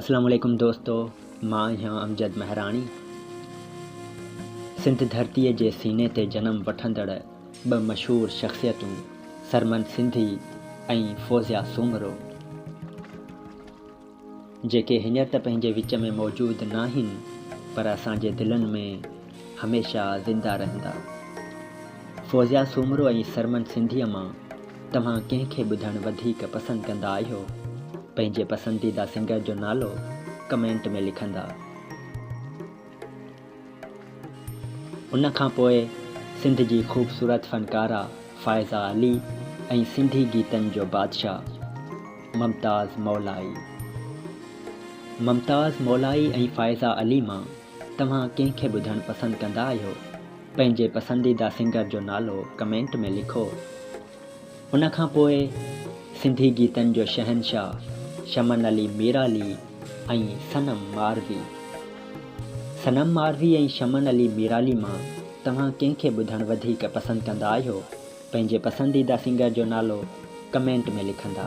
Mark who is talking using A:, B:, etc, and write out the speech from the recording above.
A: اسلام عليڪم دوستو مان آهيان امجد مهراڻي سنڌ ڌرتي جي سيني تي جنم وٺندڙ ٻه مشهور شخصيتون سرمن سنڌي ۽ فوزيا سومرو جيڪي هينئر ته پنهنجي وچ ۾ موجود ناهن پر اسان جي دلن ۾ هميشه زنده رهندا. فوزيا سومرو ۽ سرمن سنڌيء مان توهان ڪنهن کي ٻڌڻ وڌيڪ پسند ڪندا آهيو؟ پنهنجي پسنديده سنگر جو نالو ڪمينٽ ۾ لکندا. ان کان پوء سنڌ جي خوبصورت فنڪاره فائزه علي ۽ سنڌي گيتن جو بادشاهه ممتاز مولائي. ممتاز مولائي ۽ فائزه علي مان توهان ڪنهن کي ٻڌڻ پسند ڪندا آهيو؟ پنهنجي پسنديده سنگر جو نالو ڪمينٽ ۾ لکو. ان کان پوء سنڌي گيتن جو شهنشاهه شمن علي ميرالي ۽ صنم ماروي. صنم ماروي ۽ شمن علي ميرالي مان توهان ڪنهن کي ٻڌڻ وڌيڪ پسند ڪندا آهيو؟ پنهنجي پسنديده سنگر جو نالو ڪمينٽ ۾ لکندا.